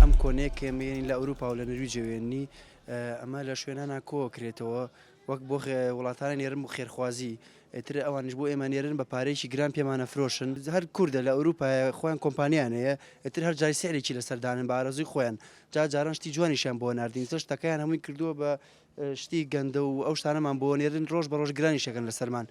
ئەم کۆنەیە کە مێنی لە ئەوروپا و لە نەرویجە وێننی ئەمە لە شوێنانە کۆوە کرێتەوە وەک بۆ وڵاتانە نێرم و خێرخوازی ئەتر ئەوانش بۆ ئێمە نێرن بە پارێکی گران پێمانە فرۆشن هەر کووردە لە ئەوروپا خۆیان کۆمپانیان هەیە ئەتر هەر جای سعرێکی لە سەردانن بارەزوی خۆیان جا جاران شتی جوانیشان بۆ نردین سەر شتەکەیان هەمووی کردووە بە شتی گەندە و ئەو شتانەمان بۆ نێرن ڕۆژ بە ڕۆژ گرانیش ئەکەن لەسەرمان.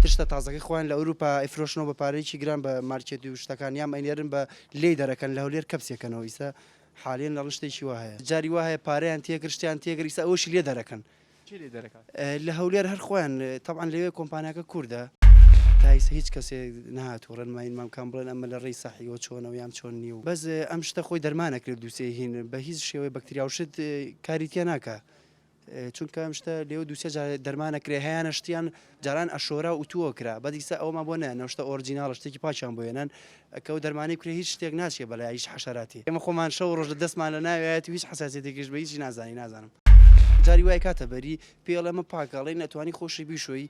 تشتە تازەکەی خۆیان لە ئەوروپا ئەیفرۆشنەوە بە پارەیەکی گران بە مارکێت و شتەکان یام ئەینێرن بە لێی دەرەکەن لە هەولێر کەپسی ئەکەنەوە ئیستا حالیەن ئەڵن شتێکی وا هەیە جاری وا هەیە پارەیان تێکرد شتیان تێکرد ئیستا ئەوەشی لێ دەرەکەن کێ لێ دەرەکات؟ لە هەولێر هەر خۆیان تەبعەن لەوێ کۆمپانیاکە کوردە. تا ئیستا هیچ کەسێ نەهاتوە ڕێنماییمان بکان بڵێن ئەمە لە ڕێی سەحیەوە چۆنە و یام چۆن نیە و بەس ئەم شتە خۆی دەرمانەکرێ دوسێ هین بە هیچ شێوەی بەکتریا و شت کاری تیا ناکا چونکە ئەم شتە لێو دووسێ جار دەرمانە کرێ هەیەە شتیان جاران ئەشۆرا و تووە کرا بەدیسە ئەوما بۆ نە نەشتە ئۆرجینناڵ شتێکی پاچیان بۆێنن ئەکە و دەرمانی کرێ هیچ شتێک ناچێ بەلای هیچ حەشاراتی ئەمە خۆمان شەو ڕۆژ لە دەستمان لە ناوێت هیچ حساسێتێکیش بە هیچی نازانی نازانم جاری وای کاتە بەری پێڵێمە پاکەڵی نەتوانی خۆشی بیشۆی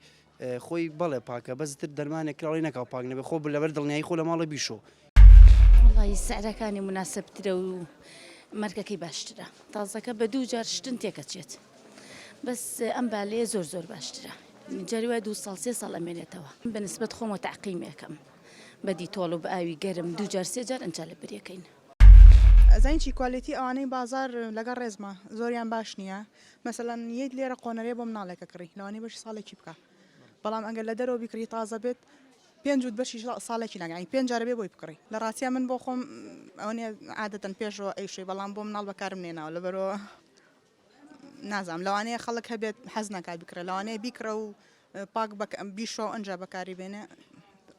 خۆی بەڵێ پاکە بەس تر دەرمانێک کراوەی نەکاو پاک نەبێ خۆ لەبەر دڵنیایی خۆ لە ماڵە بیشۆ. وەڵایی سعرەکانی موناسبترە و مەرگەکەی باشترە تازەکە بە دوو جار شتن تێکەچێت بەس ئەم بالەیە زۆر زۆر باشترە جاری وای دوو ساڵ سێ ساڵ ئەمێنێتەوە بە نسبەت خۆمەوە تەعقیمێکەم بە دیتۆڵ و بە ئاوی گەرم دوو جار سێ جار ئەنجا لە برێکەین. ئەزانی چی کوالێتی ئەوانەی بازار لەگەڵ ڕێزما زۆریان باش نیە مەسەلەن یەیت لێرە قۆنەرەیە بۆ مناڵێکە کڕی لەوانەیە بەشی ساڵێکی بکا بەڵام ئەگەر لە دەرەوە بیکڕی تازە بێت پێنج وت بەشی ساڵێکی ناگەی پێنج جارە بێ بۆی بکڕی لە ڕاستە من بۆ خۆم ئەوەنێ عادەتەن پێشەوە ئەیشوی بەڵام بۆ مناڵ بەکارم نێناوە لە بەرەوە نازام لەوانەیە خەڵک هەبێت حەز ناکا بکرێت لەوانەیە بیکڕە و پاک بیشۆ ئەجا بەکاری بێنێ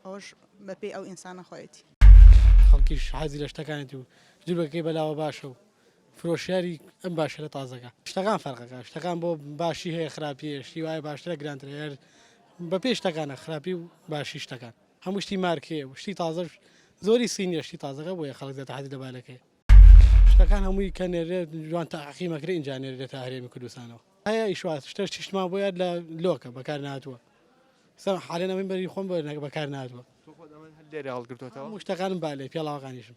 ئەوش بەپێی ئەو ئینسانە خۆیەتی خەڵکیش حەزی لە شتەکانێتی و جلوەکەی بەلاوە باشە و فرۆشیاری ئەم باشەرە تازەکە شتەکان فەرقەکە شتەکان بۆ باشی هەیە خراپی هەیە شتی وایە باشترە گرانترە هەر بە پێی شتەکانە خراپی و باشی شتەکان هەموو شتی مارکێ و شتی تازەش زۆری سینیە شتی تازەکە بۆیە خەڵک زیاتر حەزی لە بالەکەی شتەکان هەمووی کە نێرێت جوان تاقیمەکرێ ئینجا نێرێتە هەرێمی کوردستانەوە هەیە ئیشواز شتەش چیشتمان بۆ یاد لە لۆکە بەکار نهاتووە سەر حالێن ئەمەی بەری خۆم بەکار نهاتووە لێرە هەڵگرتوەوە شتەکانم بالێ پێڵاوەکانیشم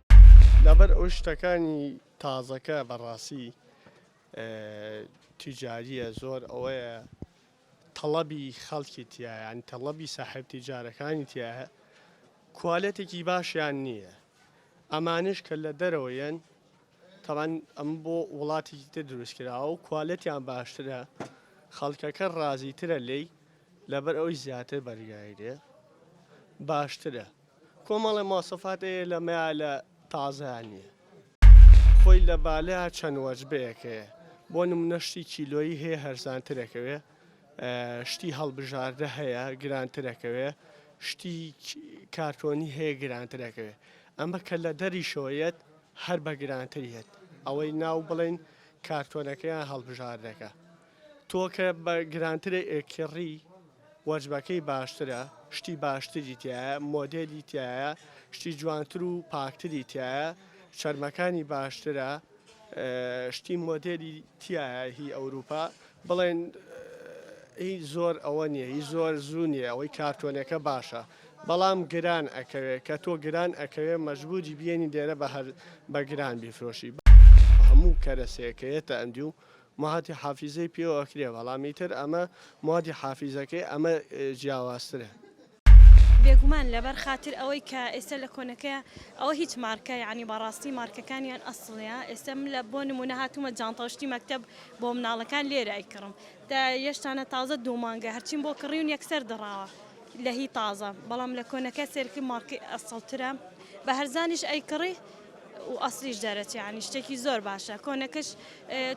لەبەر ئەوەی شتەکانی تازەکە بەڕاستی تیجاریە زۆر ئەوەیە تەڵەبی خەڵکی تایە ینی تەڵەبی ساحب تیجارەکانی تایە کوالەتێکی باشیان نییە ئەمانش کە لە دەرەوە یەن تەوان ئەم بۆ وڵاتێکی تر دروستکراوە و کوالەتیان باشترە خەڵکەکە ڕازیترە لی لەبەر ئەوی زیاتر بەرگایرێ باشترە کۆمەڵێ مۆسەفات ەێە لە مەێا لە تازەێان نیە خۆی لە بالەێا چەن وەجبەێەک هەێە بۆ نمونە شتی کیلۆیی هەێە هەرزان ترەکەێ ە شتی هەڵبژاردە هەێە گران ترەکەێ ە شتی کارتۆنی هەێە گران ترەکەێ ە ئەمە کە لە دەری شەوە یەت هەر بە گران تر یەت ئەوەی ناو بڵێن کارتۆنەکەێان هەڵبژاردەکە تۆ کە بە گرانترە ئێکیڕی وەجبەکەی باشترە شتی باشتری تیایە مۆدێلی تیایە شتی جوانتر و پاکتری تیایە چەرمەکانی باشترە شتی مۆدێلی تیایە هی ئەوروپا بڵێن هی زۆر ئەوە نییە هی زۆر زوو نییە ئەوەی کارتۆنەکە باشە بەڵام گران ئەکەوێت کە تۆ گران ئەکەوێت مەجبوری بێنی دێرە بە هەر بە گران بیفرۆشی هەموو کەرەسەیەکەیەتە ئەندی و موادی حافیزەی پێوە ئەکرێ بەڵام ئیتر ئەمە موادی حافیزەکەی ئەمە جیاوازترە. بێگومان لەبەر خاتر ئەوەی کە ئێستا لە کۆنەکەیە ئەوە هیچ مارکە یانی بەڕاستی مارکەکانیان ئەسڵیە ئێستا من لە بۆ نمونە هاتوومە جانتاو شتی مەکتەب بۆ مناڵەکان لێرە ئەیکڕم تا یەشتانە تازە دوو مانگە هەرچیم بۆ کڕیون یەکسەر دڕاوە لە هی تازە بەڵام لە کۆنەکە سێرکم مارکەی ئەسڵترە بە هەرزانیش ئەیکڕی و ئەسڵیش دەرەچێ یانی شتێکی زۆر باشە کۆنەکەش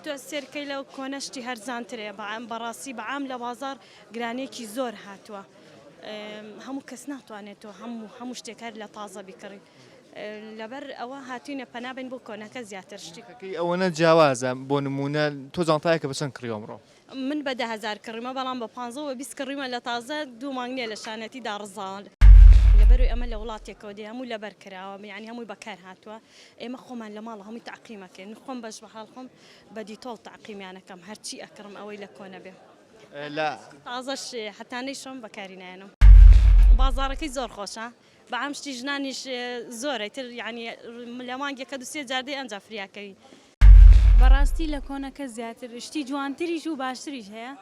تۆ سێرکەی لەو کۆنە شتی هەرزانترێ بەعام بەڕاستی بەعام لە بازار گرانێکی زۆر هاتووە هەموو کەس ناتوانێت تۆ هەموو هەموو شتێکار لە تازە بیکڕی لەبەر ئەوە هاتوینە پەنابن بۆ کۆنەکە زیاتر شتیەکەی ئەوەنە جیاوازە بۆ نمونە تۆ جانتایەکە بەچەند کڕیۆمڕۆ. من بە دە هەزار کڕیمە بەڵام بە پانزە و بە بیست کڕیمە لە تازە دوو مانگ نیە لە شانێتی داڕزاوە. لەبەرەوەی ئەمە لە وڵاتێکەوە دێ هەمووی لەبەر کراوە یانی هەمووی بەکار هاتووە ئێمە خۆمان لە ماڵە هەمووی تەعقیم ئەکەین من خۆم بەش بەحاڵ خۆم بە دیتۆڵ تەعقیمیان ئەکەم هەرچی ئەکڕم ئەوەی لە کۆنە بێ لە تازەش هەتا نەیشۆم بەکاری نایەنم بازاڕەکەی زۆر خۆشە بەعام شتی ژنانیش زۆرە ئیتر یانی لە مانگێکە دوو سێ جار دێ ئەنجا فریاکەوی. بەڕاستی لە کۆنەکە زیاتر شتی جوانتریش و باشتریش هەیە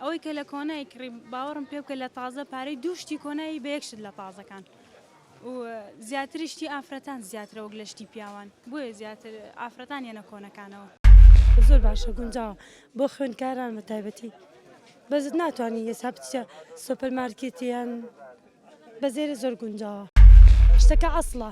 ئەوەی کە لە کۆنای کڕی باوەڕم پێ بکە لە تازە پارەی دوو شتی کۆنایی بە یەک شت لە تازەکان و زیاتری شتی ئافرەتان زیاترە وەک لە شتی پیاوان بۆیە زیاتر ئافرەتان یەنە کۆنەکانەوە. زۆر باشە گونجاوە بۆ خوێندکاران بە تایبەتی بەس ناتوانی یەسا بچیە سۆپەر مارکێت یان بەزێرێ زۆر گونجاوە شتەکە ئەسڵە.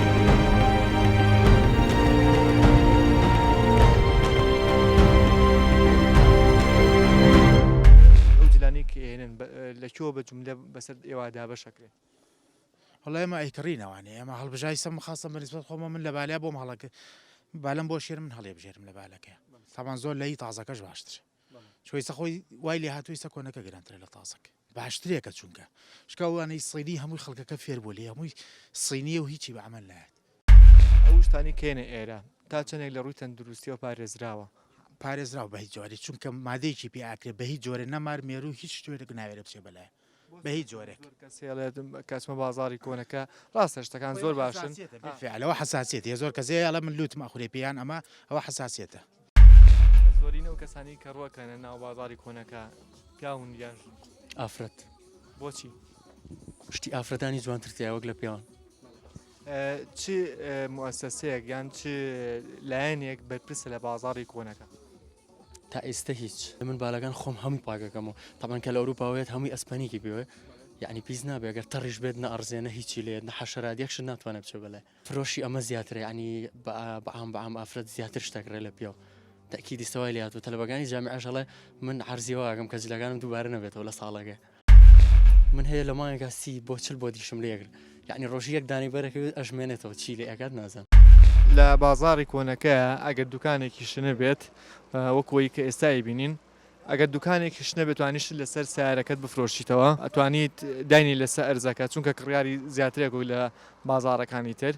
لەکوێوە بە جملە بەسەر ئێوە دابەشەکرێت هەڵ ئێمە ئەیکڕینەوانێ ئەمە هەڵبژای سەم خاستە بەنیسبەت خۆمە من لە بالیا بۆم هەڵک بالم بۆ شێر من هەڵێ بژێرم لە بالەکە سامان زۆر لەی تازەکەش باشتر چویسە خۆی وای لێ هاتووی سە کۆنەکە گرانترە لە تازەک باشترێکە چونکە شکاوانەی سینی هەمووی خەڵکەکە فێر بوو لێ هەمووی سینیە و هیچی بە عمل نایەت ئەو شتانی کێنە ئێرە تا چەندێک لە ڕووی تەندروستیەوە پارێزراوە؟ پارێزراوە بە هیچ جۆرێ چونکە مادەیەکی پێ ئاکرێ بە هیچ جۆرێ نەمار مێرو هیچ شتێک ناوێرێ بچێ بەلایە بە هیچ جۆرێک. زۆر کەس هێڵێت کە ئەچمە بازاڕی کۆنەکە ڕاستە شتەکان زۆر باشن. بالفعل ئەوە حەساسیەتیە زۆر کەس هەیە ئەڵێ من لوتم ئەخورێ پێ یان ئەمە ئەوە حەساسیەتە. زۆرینە ئەو کەسانەی کە ڕۆکەنە ناو بازاڕی کۆنەکە پیاون یان ژن؟ ئافرەت. بۆچی؟ شتی ئافرەتانی جوانتر تیا وەک لە پیاوان. چ موسسەیەک یان چ لایەنێک بەرپرسە لە بازاڕی کۆنەکە؟ تا ئیستە هیچ من بالەکان خۆم هەموی پاکەکەمەوە تەبەن کە لە ئەوروپا وێت هەموی ئەسپەنیکی بێ یعنی پیس نابێ گەر تەڕیش بێت نە ئەڕزێ نە هیچی لێت نە حەشەرات یەکشت ناتوانێت بچێ بەلای فرۆشی ئەمە زیاترە یعنی بەعام بەعام ئافرەت زیاتر شتەکرێ لە پیاو تەکی دیستەوای لاتوە تەلبەکانی جامی عژەڵێ من عرزیەوەگەم کە جلەکانم دووبارە نەبێتەوە لە ساڵەکە. من هەیە لە مانگێکا سی بۆ چل بۆ دیشم لێگر یعنی ڕۆژی یەک دانەی بەرەکەوێت ئەژمێنێتەوە چی لێ ئەکات نازان لە بازاڕی کۆنەکە ئەگەر دوکانێکیش نەبێت وەک ئەوەی کە ئێستا ئەیبینین ئەگەر دوکانێکیش نەبێت توانیشت لەسەر سیارەکەت بفرۆشیتەوە ئەتوانیت داینی لەسەر ئەرزەکە چونکە کڕیاری زیاترێک و لە بازاڕەکانی تر.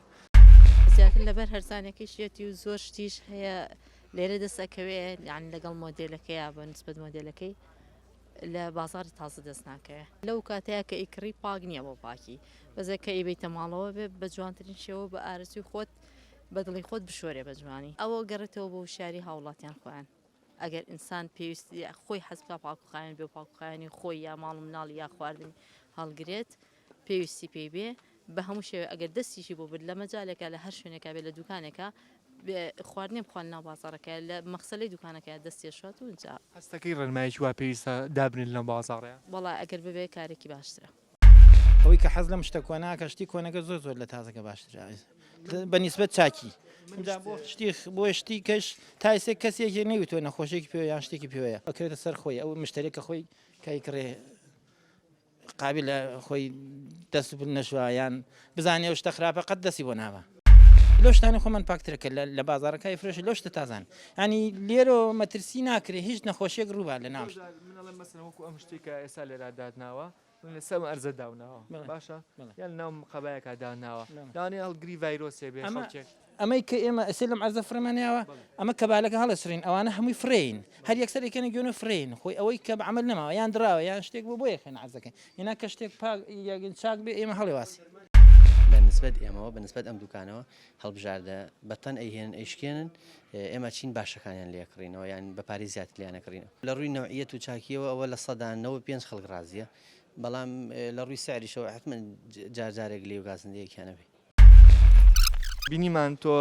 زیاتر لەبەر هەرزانەکەشیەتی و زۆر شتیش هەیە لێرە دەست ئەکەوێ یان لەگەڵ مۆدێلەکەیا بە نسبەت مۆدێلەکەی لە بازاری تازە دەست ناکەوێ لەو کاتەیە کە ئیکڕی پاک نییە بۆ پاکی بەزە کە ئیبیتە ماڵەوە بێ بە جوانترین شێوە بە ئارەزوی خۆت بە دڵی خۆت بشۆرێ بە جوانی ئەوە گەڕێتەوە بۆ شاری هاوڵاتیان خۆیان ئەگەر ئینسان پێویستی خۆی حەزبکە پاکوخایەن بێ پاکوخایانی خۆی یا ماڵ مناڵ یا خواردنی هەڵگرێت پێویستی پێی بێ بە هەموو شێوەیە ئەگەر دەستیشی بۆ برد لە مەجالێکا لە هەر شوێنێکا بێ لە دوکانێکا خواردنێ بخوات ناو بازاڕەکە لە مەخسەلەی دوکانەکەیە دەست تێشوات و ئینجا هەستەکەی ڕێنمایەکی وا پێویستە دابنێت لەم بازاڕەیا؟ وەڵا ئەگەر ببێ کارێکی باشترە. ئەوەی کە حەز لەم شتە کۆناکە شتی کۆنەکە زۆر زۆر لە تازەکە باشترە بە نیسبەت چاکی جا بۆ شتی بۆ شتی کەش تا ئێسێک کەسێکی نەیوتۆ نەخۆشێکی پێوە یان شتێکی پێوەیە ئەکرێتە سەر خۆی ئەو مشتەرێکە خۆی کای کڕێ قابیلە خۆی دەست و پل نەشوا یان بزانێ ئەو شتە خراپە قەت دەستی بۆ نابا. لەو شتانەی خۆمان پاکترە کە لە بازاڕەکە ئەیفرۆشێ لەو شتە تازانە یانی لێرۆ مەترسی ناکرێ هیچ نەخۆشیەک ڕووبا لە ناو من ئەڵێم مەسەلەن وەکو ئەم شتەی کە ئێستا لێرا داتناوە من لە سەم ئەرزە داوناوە بەڵێ باشە بەڵێ یان لەناو قەبایەکا داناوە بەڵێ لەوانەیە هەڵگری ڤایرۆسێ بێ ئەمە خەڵکێک ئەمەی کە ئێمە ئەسێ لەم عەرزە فرەمان ناوە ئەمە کەبالەکە هەڵەسرین ئەوانە هەمووی فرین هەر یەکسەر یەکەنە گوێنە فرین خۆی ئەوەی کە عمل نەماوە یان دراوە یان شتێک بۆ بۆ یەکەن عەرزەکەی هێنا کە شتێک پاک یەگن چاک بێ ئێمە هەڵێواسی بەنسبەت ئێمەوە بەنسبەت ئەم دوکانەوە هەڵبژاردە بەتەن ئەیهێنن ئەیشکێنن ئێمە چین باشەکانیان لێکڕینەوە یان بە پارێ زیات لیانەکڕینەوە لە ڕووی نوعیەت و چاکیەوە ئەوە لە سەدان نەوە پێنج خەڵک ڕازیە بەڵام لە ڕووی سعریشەوە حتممە جارجارێک لێ و گازندەیەکیانەبێ بینیمان تۆ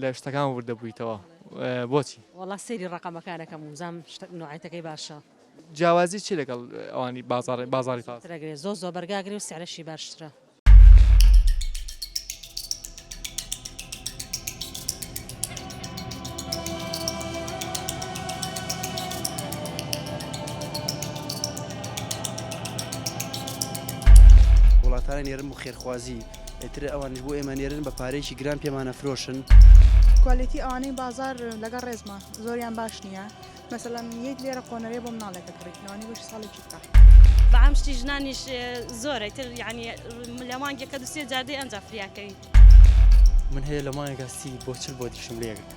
لە شتەکان وردە بوویتەوە بۆچی؟ وەڵا سەیری ڕەقەمەکان ئەکەم و بزانم شتە نوعەتەکەی باشە. جیاوازی چیە لەگەڵ ئەوانی بازاڕی بازاڕی فارس؟ زۆر ئەگرێ زۆر زۆر بەرگا ئەگرێ و سعرەشی باشترە. وڵاتانی نێرم و خێرخوازی. ئیتر ئەوانش بۆ ئێمە نێرن بە پارێکی گران پێمانە فرۆشن کوالێتی ئەوانەی بازار لەگەڵ ڕێزمە زۆریان باش نییە مەسەلەن یەک لێرە قۆنەرێ بۆ مناڵێکە کڕیتنەوەنی بەش ساڵێکی بکە بەعام شتی ژنانیش زۆرە تر یعنی لە مانگێکە دوسێ جادەی ئەنج فریاکەوی من هەیە لە مانگەسی بۆ چل بۆ دیشم لێگرت